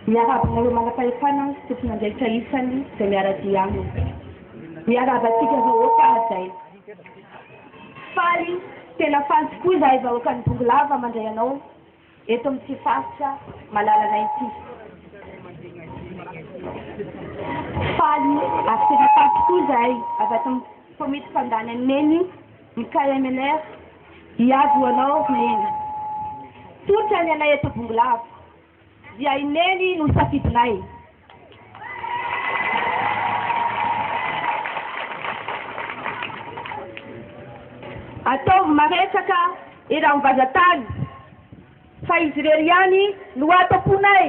Miarahaba anareo manam-pahefana sy tompon'andraikitra isany izay miara-dia aminy. Miarahaba antsika vahoaka hajaina. Faly, tena faly tokoa izahay vahoakan'i Bongolava mandray anao eto amin'ity faritra malalanay ity. Faly ary tena faly tokoa izahay avy ato amin'ny komity fandany an'i Neny. Mikaya Menaire, hiady ho anao ho neny. Tsotra ny anay eto Bongolava, dia i neny no safidinay. Ataovy maresaka eran'ny vaza tany fa izy irery ihany no ato am-ponay.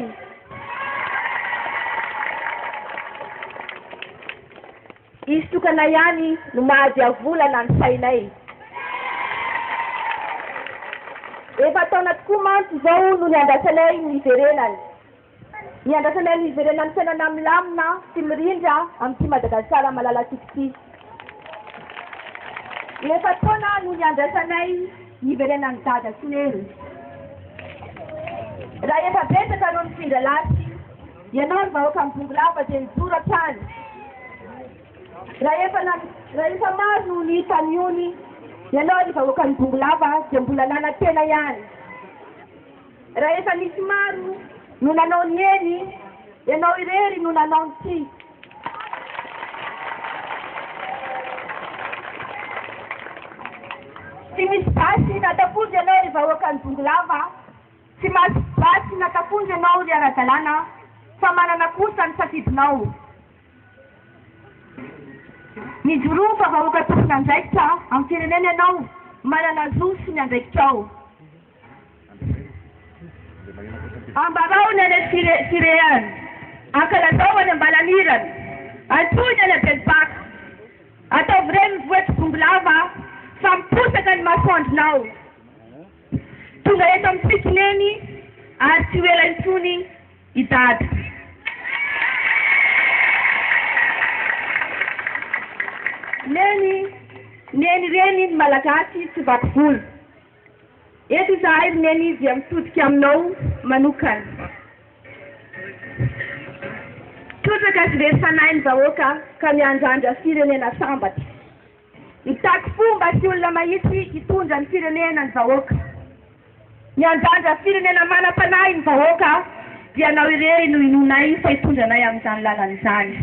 Izy tokana ihany no mahadiavolana ny sainay. Efa taona tokoa mantsy izao no niandrasanay ny hiverenany. Niandrasanay ny hiverenan'ny fiainana milamina sy mirindra amin'ity Madagasikara malalantsika ity. Efa taona no niandrasanay ny hiverenan'i Dada sy Neny. Raha efa betsaka ireo nifindra lany. Ianao ry vahoaka mibongo lava dia mijoro hatrany rahefa rahefa maro no nihita an'i ony Ianao ry vahoaka mibongo lava dia mbola nanantena ihany rahefa nisy maro no nanao ny eny Ianao irery no nanao ny tsy tsy misy basy na tafody Ianao ry vahoaka mibongo lava Tsy mahazo basy na tafondro ianao ry ara-dalàna an! Fa manana kosa ny safidinao. Mijoroa fa vahoaka tompon'andraikitra amin'ny firenena ianao, manana zo sy ny andraikitrao. Ambarao ny any Eritrea any, ankalazao any Ambalanirana, antsoy ny any Abelipaka, ataovy reny ny vohitr'i Bongolava fa miposaka ny masoandronao. Tonga eto amintsika Neny ary tsy ho ela intsony i Dada. Neny, Neny reny ny Malagasy tsy vaky volo. Eto izahay ry Neny dia mitodika aminao manokana. Trotraka sy very fanahy ny vahoaka ka miandrandra firenena sambatra. Mitaky fomba sy olona mahitsy hitondra ny firenena ny vahoaka. Ny hanjanja firenena manam-panahy ny vahoaka dia ianao irery no inoanay fa hitondra anay amin'izany lalana izany.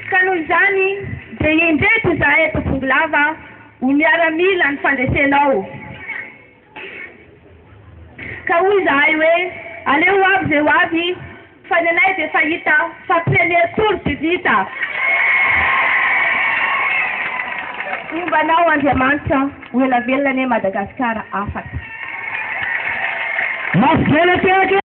Ka noho izany dia indreto izahay eto Bongolava ho miaramila ny fandresenao. Ka hoy izahay hoe, Aleo ho avy izay ho avy, fa ny anay dia efa hita fa pionnier tour de vita. Homba anao Andriamanitra, ho ela velona anie Madagasikara afaka. Mafy be le tehaka e!